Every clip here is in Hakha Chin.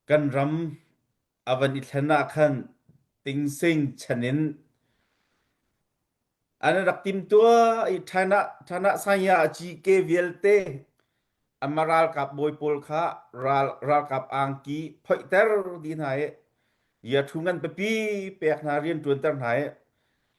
Kan ram a van i thlen ah khan tingsing chan in an rak timtuah i China China Sanya a cike vialte amma ralkap bawi pawl kha ral ralkap angki phoihter dih hna i Yathu ngan pipi pek hna rianṭuanter hna i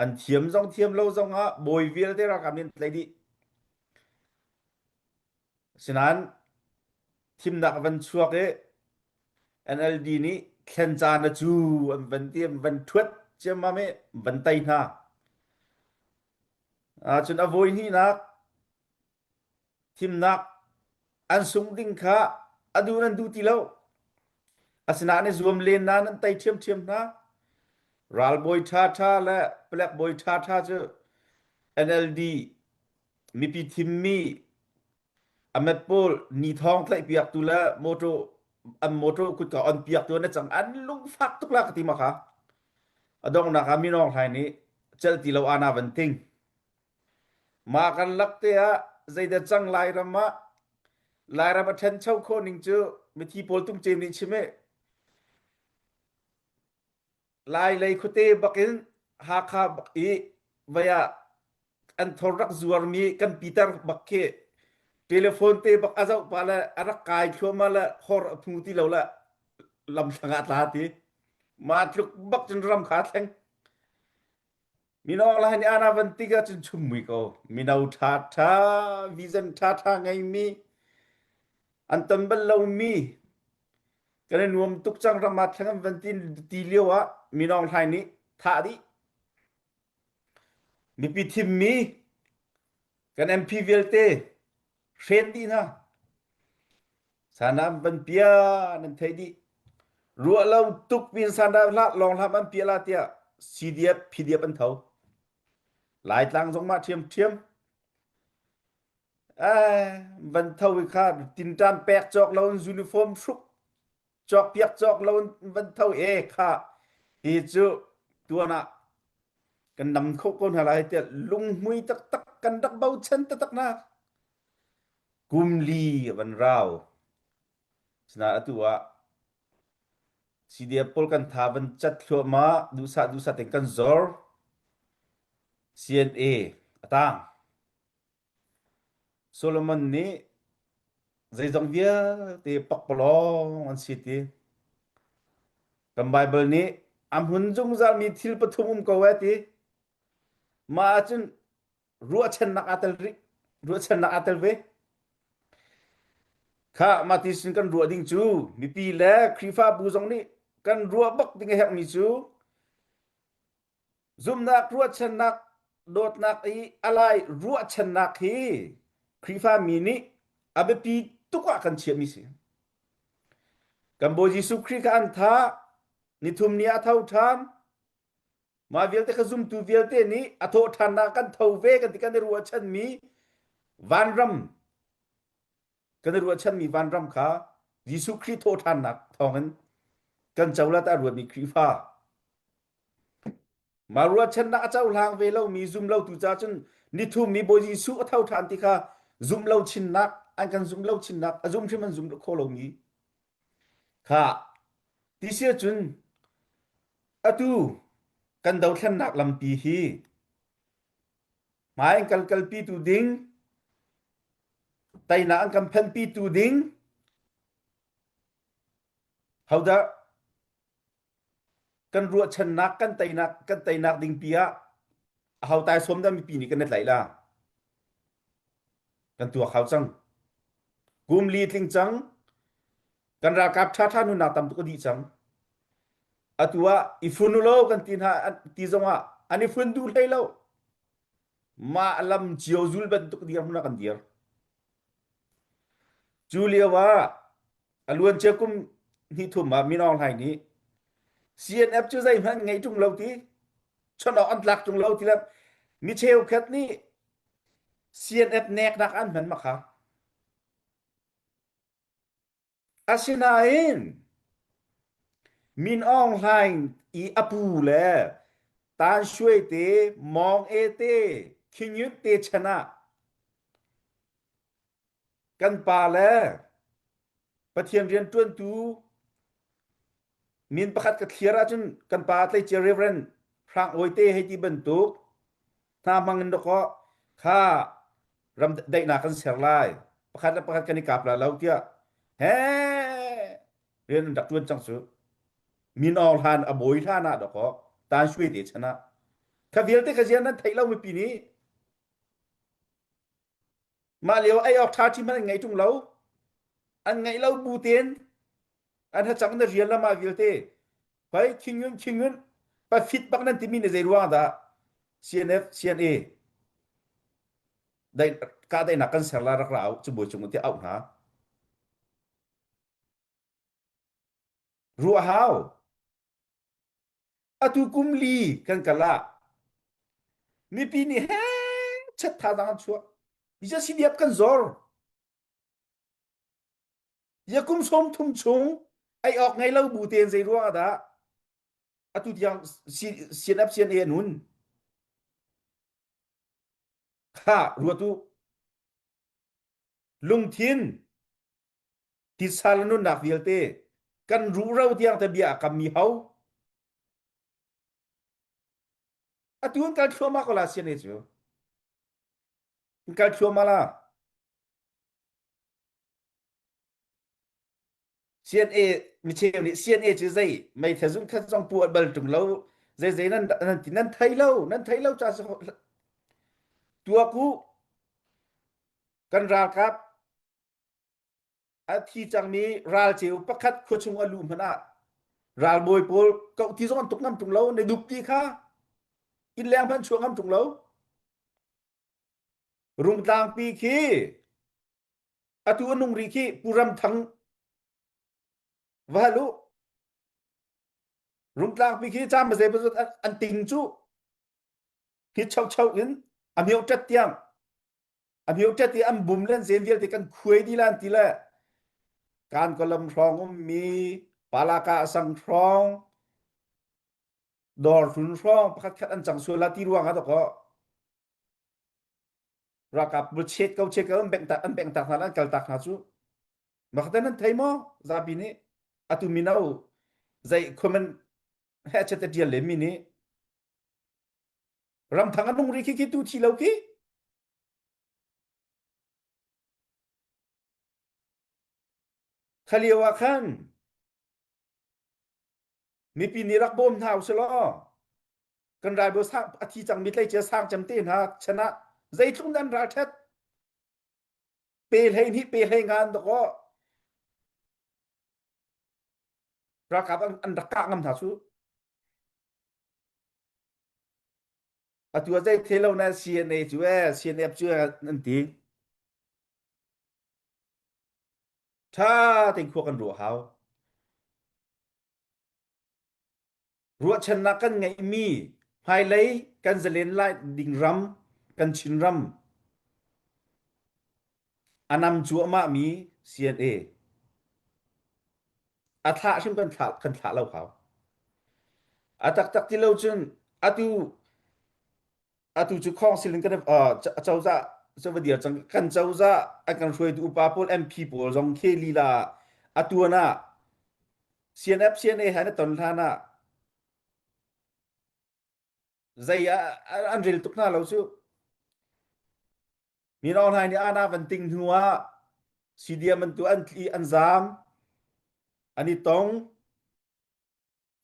an thiam zong thiam lo zongah bawi vialte ralkap nih an tlaih dih. Asinain thimnak a van chuak i NLD nih thlen caan a cu an van ti an van thuat ciammam i van tei hna. Cun a voi hnihnak thimnak an sung ding kha a du nan du ti lo. Asinain i zuam len na nan tei ṭhiamṭhiam hna. Ralbawi ṭhaṭha le palekbawi ṭhaṭha cu NLD Mipi thimmi a mat pawl ni thawng tlaihpiaktu le motor an motor kutka on piaktu an cang an lungfak tuk la ka ti ma kha a donghnak ah minawng hlai nih cel ti lo ana van ting ma kan lak te ah zeidah cang lairam ah lairam a ṭhencho khawh ning cu mithi pawl tung cem nih chim e Lailei khuate bakin Hakha bak i vai ah an thor rak zuarmi kan Peter bak khi telephone te bak a zoh pah le a rak kai thluahmah le hor a phu ti lo le lam hrang ah tla ti. Mah tluk bak cun ram kha a thleng. Mino lai nih ana van tik ahcun chummui ko. Mino ṭha ṭha, vision ṭha ṭha ngeimi, an tam bal lomi, kan i nuam tuk cang ram ah theng an van ti, ti lio ah Minong Hlai nih thah dih. Mipi thimmi, kan MP vialte, hret dih hna sanam van pia nan thei dih ruah lo tuk vin sanam hlat long hlam an pia la tiah CDF PDF an tho laitlang zong mah ṭhiam ṭhiam van tho i khan tinṭan pek cawk lo in uniform hruk cawk piak cawk lo van tho e kha ti cu tuan ah kan dam kho ko hna lai tiah lunghmui taktak kan rak bochan taktak na kum li van rau sina atu ah CDF pol kan tha van chat thluama dusa dusa ten kan zor CNA atang Solomon nih zeizong vialte pakpalawng an si ti. Kan Baibal nih a hmun zungzalmi thil pathum um ko ee ti. Mah ahcun ruahchannak aa tel rih. Ruahchannak aa tel ve. Kha mah ti sin kan ruah ding cu mipi le Khrihfabu zong nih kan ruah bak ding a herhmi cu Zumhnak ruahchannak dawtnak i a lai ruahchannak hi Khrihfami nih a biapi tuk ah kan chiahmi si. Kan Bawi Jesuh Khrih kha an tha nithum ni ah a tho ṭhan. Mah vialte ka zumtu vialte nih a thawh ṭhannak kan tho ve kan ti kan i ruahchanmi vanram kan i ruahchanmi vanram kha Jesuh Khrih thawhṭhannak thawngin kan cohlat ah ruatmi Khrihfa mah ruahchannak a cohlang ve lomi zumlotu ca cun nithum nih Bawi Jesuh a tho ṭhan ti kha zumlo chinnak an kan zumlo chinnak a zum hrim an zum khawh lomi kha ti si cun atu kan dothlennak lampi hi Hmai an kal kalpitu ding, teinak an kan phenpitu ding, hodah kan ruahchannak kan teinak kan teinak ding pi ah hau tai som da mipi nih kan na tlaih la kan tuak hau cang kum li tling cang kan ralkap thatha nunnak tam tuk a dih cang atu ah i fun u lo kan ti hna ti zongah an i fun duh hlei lo mah lam cio zul bantuk dir hmuna kan dir cu lio ah aluancia kum ni thum ah min aung hlaing nih CNF cu zeihmanh ngei tung lo ti chonok an tlak tung lo ti lam mi cheukhat nih CNF nek nak an hman makha Asinain Min Aung Hlaing i a pu le Tan Shwe te, Maung Ae te, Khing Yut te chan ah kan pa le Pathian rianṭuantu min pakhat ka thliar ahcun kan pa tleicia reverend hrang awi te hei ti bantuk hna hmang in dakaw kha ram daihnak kan ser lai pakhat le pakhat kan i kap la lo tiah he rian an rak ṭuan cang cu min or hlan a bawi hlan ah dakaw tan shui te chan ah kha vialte ka zian nan theih lo mipi nih Mah lio ei awk ṭha ṭhi hmanh an ngei ṭung lo. An ngeih lo bu tein an hacang na rial lam ah vialte hoi khingun khingun pafit bak nan timi na zei ruang dah CNF CNA dai kahdaihnak kan ser la rak ra u, cabuai cung tiah auh hna. ruah hau. Atu kum li kan kal ah mipi nih he chat tha dang an chuah. Mi cu siliap kan zor. Yakum som thum chung ei ok ngei lo bu tein zei ruang dah atu tiang CNF CNA anun. Ha ruatu lungthin Titsa le nunnak vialte kan ruhro tiang te bia a kammi ho atu kan kal thluahmah ko la siane cu kan kal thluahmah la CNA micheu nih CNA cu zei meithla zung khat zong pu bal tung lo zei zei nan nan ti nan thei lo nan thei lo cha tua ku kan ralkap A thi cangmi ralceu pakhat khuachung a luh hmanh ah ralbawi pawl kau ti zong an tuk ngam tung lo ne dup ti kha in leng hmanh chuang ngam tung lo rungtlangpi khi atu a nung ri khi puram thang va lu rungtlangpi khi cam mazei bazut an ting cu hi chau chau in a miotat tiang amiotet i an bum len zen vialte kan khuai di lan ti le kan ko lam hrong ummi palaka asang hrong dor hlun hrong pakhat khat an chang sual la ti ruang ha to ko rakap bu chet kau chet kau an beng tak an beng tak hna an kal tak hna chu makhaten an thei mo zapi ni atu minau zai khomen he chete tial le mi ni Ramthang a nung ri khi khi tu thi lo khi. Kha lio ah khan mipi nih rak bawm hna usih law kan ralbawi sang a thi cangmi tleicia sang cem te hna chan ah zeitluk nan ral ṭhet Pe hleihnih pe hlei ngan tuk aw. Ralkap an, an rak kah ngam hna cu. Atu a zei thelo na CNA cu e, CNF cu e, an ti. Tha tein khua kan ruah hau. Ruahchannak kan ngeihmi hmailei kan zalen lai ding ram kan Chinram a nam cuahmahmi CNA a thlah hrim kan thlah kan thlah lo hau a taktak ti lo cun atu atu cu khong silin kan cozah cava dir cang kan cozah an kan hruaitu upa pawl MP pawl zong khi lila atuan ah CNF CNA ha na ton hlan ah zei an ril tuk hna lo cu mi rong hlai nih ana van ting hnu ah CDM an tu an tli an zam ani tong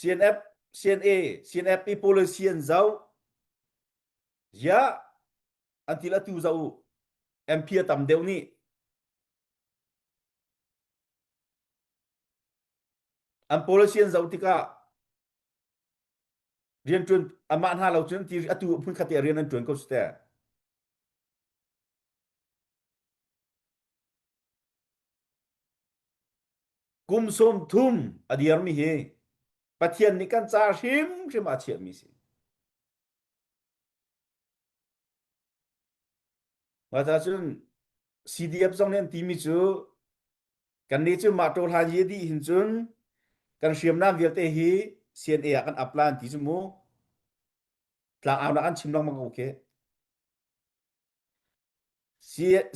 CNF, CNA, CNF i policy an zoh. Ya, antil atu zoh MP a tam deuh nih an policy an zoh tikah rian tuan amah hna lo cun ti atu phun khat te rian an tuan ko si te. kum sawm thum a dirmi hi Pathian nih kan ca hrimhrim a chiahmi si. Mata cun CDF zong nih an timi cu kan nih cu mah ṭola ye dih hin cun kan hriamnam vialte hi CNA ah kan apply an ti cu mu tla au na an chim lengmang ko khi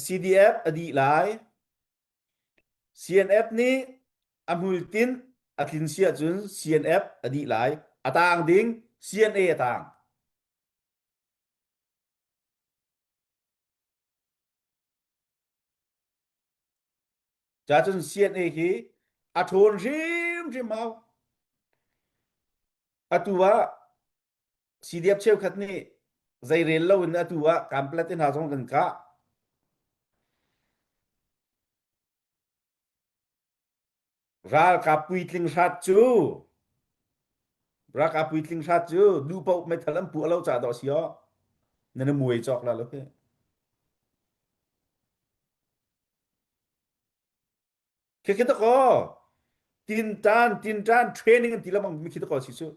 CDF a dih lai. CNF nih a hmuitinh a tlin si ahcun CNF a dih lai. A taang ding CNA a taang. Cacun CNA hi a ṭhawn hrimhrim hau. Atu ah CDF cheukhat nih zei rel lo in atu ah kamplet in hna zong kan kah. Ralkap puitling hrat cu ralkap puitling hrat cu duhpaoh metal an puh lo ca dah si oh na na muai cawk la lo hi. Khikhi ta ko tintan tintan training an ti lamang mi khi ta ko si cu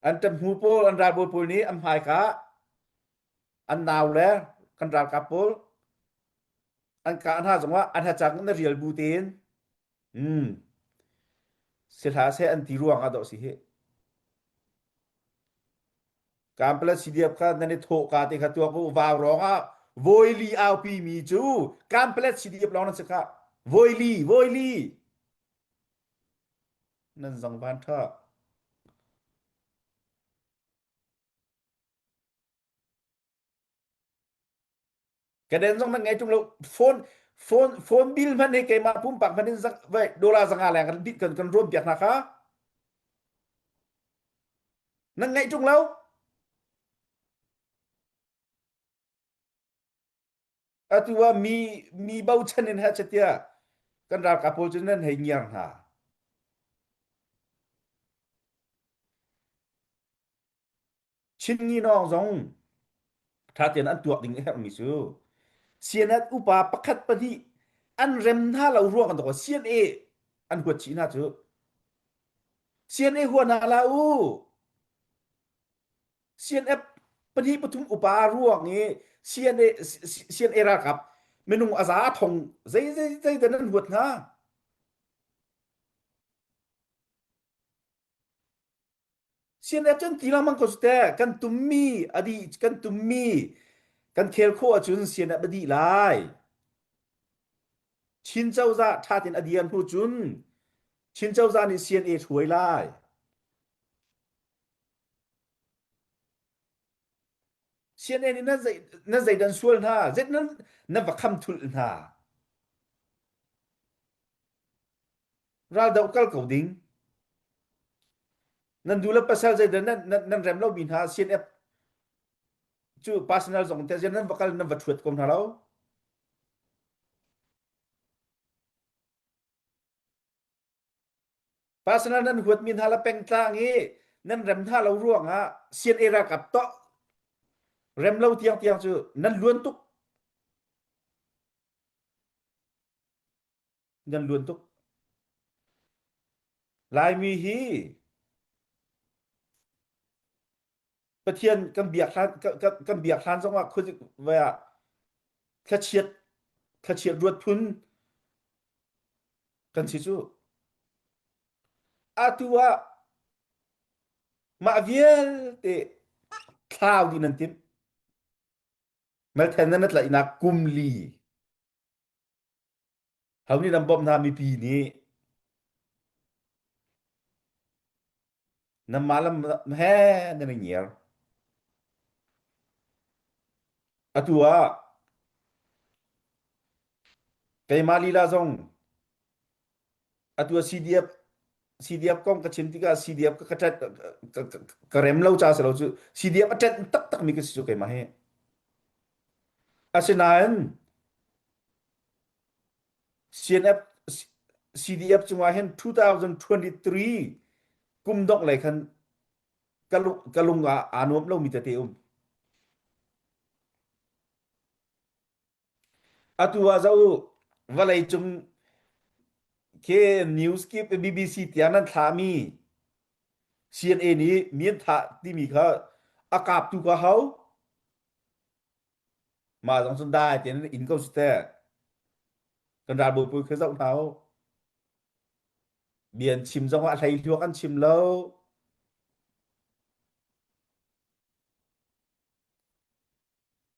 an ṭam hnu pawl an ralbawi pawl nih an hmai kha an nau le kan ralkap pawl an ka hna zongah an hacang in na rial bu tein Si hlah seh an ti ruang ah dah si hih. Kan pala si diap kha nan i thawh ka te kha tuak u vau rong ah voi li aupi mi cu kan pala si diap lawng nan si kha voi li voi li nan zang ban tha Kaden zong nan ngei ṭung lo. Phone phone phone bill hman hi keimah pumpak hman in zak vai dollar zanga leng kan dit kan kan ruam piak hna kha. Nan ngei ṭung lo. atu ah mi mi bochan in ha chatia kan ralkap pawl cu nan hei ngiar hna chinni nawng zong ṭhatein an tuak ding a herhmi cu sianat upa pakhat pahnih an rem hna lo ruang an tawk CNA an huat chih hna cu CNA hua hna la u CNF pahnih pathum upa ruang i CNA CNA ralkap minung a za thong zei zei zei dan an huat hna CNF cun ti lengmang ko te kan tummi a dih kan tummi kan khel khawh ahcun CNF a dih lai Chin cozah thatin a dian hnu cun Chin cozah nih CNA hruai lai CNN in na, zei, na zeidan sual hna zet na, na va kham thul hna raldoh kal ko ding nan dula pasal zeidan nan, nan, nan rem lo mi hna CNF cu personal zong te nan va kal nan va thuat ko hna lo Personal nan huatmi hna le pengtlang i nan rem hna lo ruangah CNA ralkap toh rem lo tiangtiang cu nan luan tuk nan luan tuk Laimi hi Pathian kan biak hlan kan biak hlan zongah vai ah thlachiat thlachiat ruat phun kan si cu atu ah mah vialte thlau di nan tim nal then nan tlaihnak kum li Ho nih nan bawmh hna mipi nih nanmah lam he nan i ngiar. Atu ah keimah lila zong atu ah CDF CDF kong ka chim tikah CDF ka ka ṭet ka ka ka rem lo ca si lo cu CDF a ṭet taktakmi ka si cu keimah hi. Asinain CDF cungah hin 2023 kum dongh lei khan ka lung ah aa nuam lomi tete um. Atu ah zo vawlei cung ke news kip BBC tiang nan thlami CNA nih mian tha timi kha a kaptu ka hau. mah zong cu dai tein in ko si teh kan ral bupi khi zoh hna u bian chim zong ah hlei hluak an chim lo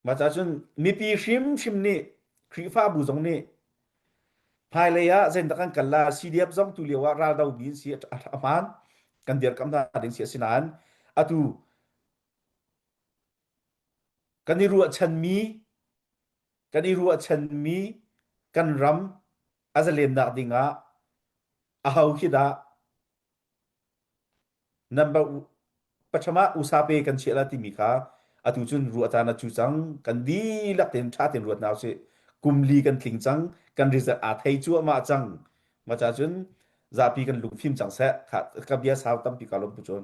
Mah cun mipi hrimhrim nih Khrihfabu zong nih hmailei ah zeidah kan kal la CDF zong tu lio ah raldomi in si a hmaan kan dirkamh hna ding si a si nain atu kan i ruahchanmi kan i ruahchanmi kan ram a zalennak ding ah aho khi dah number pacham ah usa pe kan chiah la timi kha atu cun ruah caan a cu cang kan dihlak ten tha ten ruat na usih kumli kan tling cang kan result aa thei cuahmah cang maca cun zapi kan lung fim cang seh ka bia sau tampi ka lom pu cun